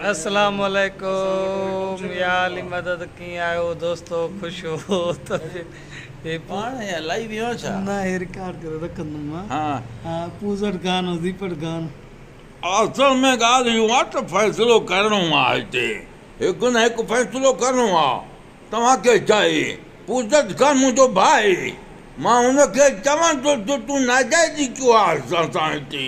اسلام عليڪم يا علي مدد ڪيئن آهيو دوستو خوش هو ته هي پاڻ هي الائي ويو آهي ڇا نه هي رڪارڊ ڪري رکندم مان ها ها پوزٽ گان هو زيپٽ گان اصل ۾ ڳالهه اهو آهي ته فيصلو ڪرڻو آهي هتي هڪ نه هڪ فيصلو ڪرڻو آهي توهان کي چاهي پوزٽ گان منهنجو ڀائي مان هن کي چوان ٿو جو تون ناجائزي ڪيو آهي اسان سان هتي